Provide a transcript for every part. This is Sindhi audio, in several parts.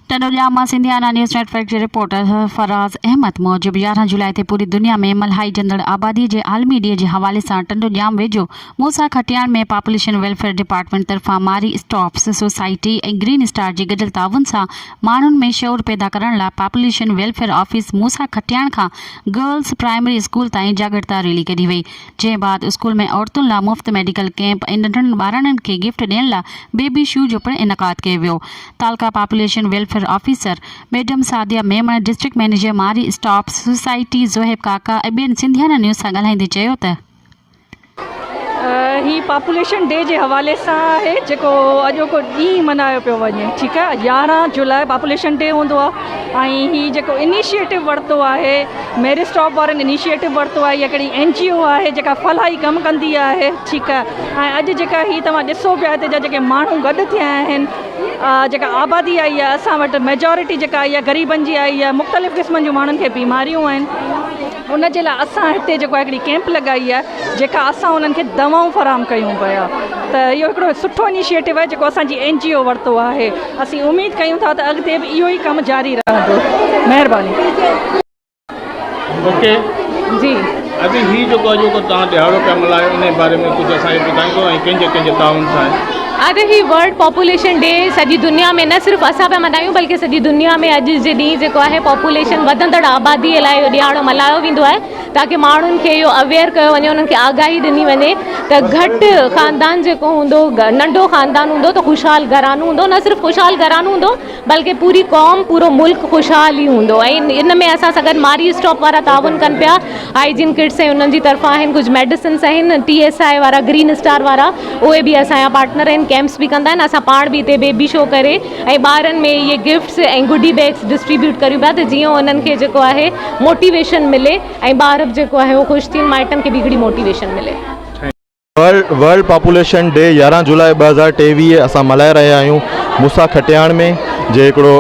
ٽنڊوڄام مان سنڌيانا نيوز نيٽ ورڪ جي رپورٽر فراز احمد موجب يارهن جولاء تي پوري دنيا ۾ ملهائجندڙ آبادي جي عالمي ڏينهن جي حوالي سان ٽنڊوڄام ويجهو Musa Khatian ۾ population welfare department طرفان Marie Stopes society ۽ green star جي گڏيل تعاون سان ماڻهن ۾ شعور پيدا ڪرڻ لاء population welfare office Musa Khatian کان گرلس پرائمري اسڪول تائين جاڳرتا ريلي ڪڍي وئي جنهن بعد اسڪول ۾ عورتن لا مفت ميڊيڪل ڪيمپ ۽ ننڍڙن ٻاراڻين کي گفٽ ڏين لا بيبي شو جو پڻ انعقاد ڪيو ويو تعلقه population welfare officer madam Sadia Memon district manager Marie Stop society Zohaib Kaka ۽ ٻين سنڌيانا نيوز سان ڳالهائيندي چيو ته هي پاپوليشن ڊي جي حوالي سان آهي جيڪو اڄوڪو ڏينهن ملهايو پيو وڃي ٺيڪ آهي يارهن جولاء پاپوليشن ڊي هوندو آهي ۽ هي جيڪو انيشيٽو ورتو آهي ميري اسٽاپ وارن انيشيٽو ورتو آهي اها ڪهڙي اين جي او آهي جيڪا فلاحي ڪم ڪندي آهي ٺيڪ آهي ۽ اڄ جيڪا هي توهان ڏسو پيا هتي جا جيڪي ماڻهو گڏ ٿيا آهن جيڪا آبادي آئي آهي اسان وٽ ميجورٽي جيڪا آئي آهي غريبن جي آئي آهي مختلف قسمن جون ماڻهن کي بيماريون آهن ان جي لاء اسان هتي جيڪو آهي هڪڙي ڪيمپ لڳائي آهي جيڪا اسان انهن کي دوائون فراهم ڪيون پيا ته اهو هڪڙو سٺو انيشيٽو آهي جيڪو اسان جي اين جي او ورتو آهي اسين اميد ڪيون ٿا ته اڳتي به اهو ئي ڪم جاري رهندو مهرباني. اوڪي جي ابي هي جيڪو اڄوڪو توهان ڏهاڙو پيا ملهايو انهي باري ۾ ڪجهه اسان کي ٻڌائيندو ۽ ڪنهن جي ڪنهن جي تعاون سان اڄ هي ورلڊ پاپوليشن ڊي سڄي دنيا ۾ نه صرف اسان پيا ملهايون بلڪه سڄي دنيا ۾ اڄ جي ڏينهن جيڪو آهي پاپوليشن وڌندڙ آبادي لاء اهو ڏيهاڙو ملهايو ويندو آهي تاڪي ماڻهن کي اهو اويئر ڪيو وڃي انهن کي آگاهي ڏني وڃي ته گهٽ خاندان جيڪو هوندو ننڍو خاندان هوندو ته خوشحال گهرانو هوندو نه صرف خوشحال گهرانو هوندو بلڪه پوري قوم پورو ملڪ خوشحال ئي هوندو ۽ ان ۾ اسان سان گڏ ماري اسٽاپ وارا تعاون ڪن پيا هائيجين ڪٽس ۽ انهن جي طرفان آهن ڪجهه ميڊيسنس آهن ٽي ايس آء وارا گرين اسٽار وارا اهي به اسان جا پارٽنر آهن ڪيمپس به ڪندا آهن اسان پاڻ به هتي بيبي شو ڪري ۽ ٻارن ۾ اهي گفٽس ۽ گڊي بيگس ڊسٽريبيوٽ ڪريون پيا ته جيئن انهن کي جيڪو آهي موٽيويشن ملي ۽ ٻار به جيڪو آهي اهو خوش ٿين مائٽن کي به هڪڙي موٽيويشن ملي ورلڊ پاپوليشن ڊي يارهن جولاء ٻه هزار ٽيويهه اسان ملهائي رهيا آهيون موسيٰ کٽياڻ ۾ جي هڪڙو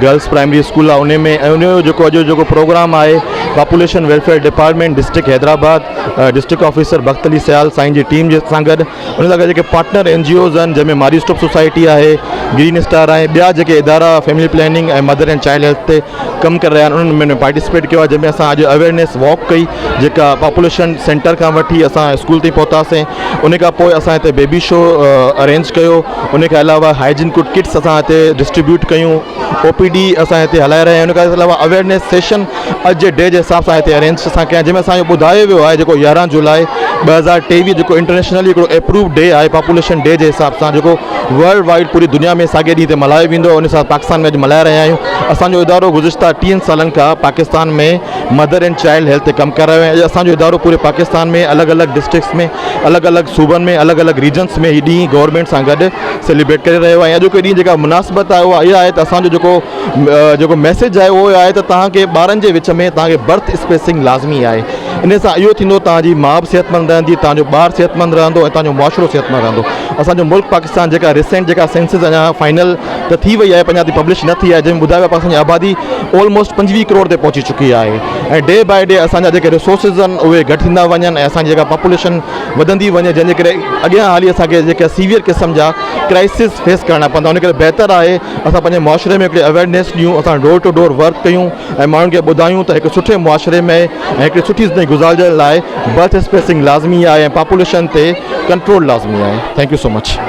گرلس پرائمري اسڪول آهي ان ۾ ان جو جيڪو اڄ جيڪو پروگرام آهي population welfare department district Hyderabad district officer Bakht Ali Sial سائين جي ٽيم جي سان گڏ ان سان گڏ جيڪي پارٽنر اين جي اوز آهن جنهن ۾ ماري اسٽوپ سوسائٽي آهي گرين اسٽار آهي ٻيا جيڪي ادارا family planning ۽ mother and child health تي ڪم ڪري رهيا آهن انهن ۾ پارٽيسپيٽ ڪيو آهي جنهن ۾ اسان اڄ اويرنيس واڪ ڪئي جيڪا پاپوليشن سينٽر کان وٺي اسان اسڪول تائين پهتاسين ان کان پوء اسان هتي بيبي شو ارينج ڪيو ان کان علاوه هائجين ڪوٽ ڪٽس اسان هتي ڊسٽريبيوٽ ڪيون او پي ڊي اسان هتي هلائي رهيا آهيون ان کان علاوه اويرنيس سيشن اڄ جي ڊي جي حساب سان هتي ارينج اسان ڪيا جنهن ۾ اسان جو ٻڌايو ويو آهي جيڪو يارهن جولاء ٻه هزار ٽيويهه جيڪو انٽرنيشنل هڪڙو ايپروو ڊي آهي پاپوليشن ڊي جي حساب سان جيڪو ورلڊ وائيڊ پوري دنيا ۾ ساڳئي ڏينهن تي ملهايو ويندو آهي ان حساب سان پاڪستان ۾ اڄ ملهائي رهيا آهيون اسان جو ادارو گذشته ٽيهن سالن کان Pakistan ۾ mother and child health تي ڪم ڪري رهيو آهي اڄ اسان جو ادارو پوري پاڪستان ۾ الڳ الڳ ڊسٽرڪس ۾ الڳ الڳ صوبن ۾ الڳ الڳ ريجنس ۾ هي ڏينهن گورنمينٽ سان گڏ سيليبريٽ ڪري رهيو آهي اڄوڪي ڏينهن جيڪا مناسبت آهي اها اها آهي ته اسان جو جيڪو جيڪو ميسيج آهي اهو آهي ته تهان کي ٻارن جي وچ ۾ تهان کي برٿ اسپيسنگ لازمي آهي ان سان اهو ٿيندو توهان جي ماء به صحتمند رهندي، توهان جو ٻار صحتمند رهندو ۽ توهان جو معاشرو صحتمند رهندو. اسان جو ملڪ پاڪستان جيڪا ريسينٽ جيڪا سينسز اڃا فائنل ته ٿي وئي آهي پر اڃا تائين پبلش نه ٿي آهي جنهن ۾ ٻڌايو ويو آهي پاڪستان جي آبادي آلموسٽ پنجويهه ڪروڙ تي پهچي چڪي آهي ۽ ڊي باء ڊي اسان جا جيڪي ريسورسز آهن اهي گهٽ ٿيندا وڃن ۽ اسان جي جيڪا پاپوليشن وڌندي وڃي جنهن جي ڪري اڳيان هلي اسان کي جيڪا سيويئر قسم جا ڪرائسز فيس ڪرڻا پوندا ان ڪري بهتر آهي اسان پنهنجي معاشري ۾ هڪڙي اويرنيس ڏيون اسان ڊور ٽو ڊور ورڪ ڪيون ۽ ماڻهن کي ٻڌايون ته هڪ سٺي معاشري ۾ ۽ هڪڙي سٺي زندگي گذارجڻ لاء برٿ اسپيسنگ لازمي آهي ۽ پاپوليشن تي ڪنٽرول لازمي آهي ٿينڪ يو سو مچ.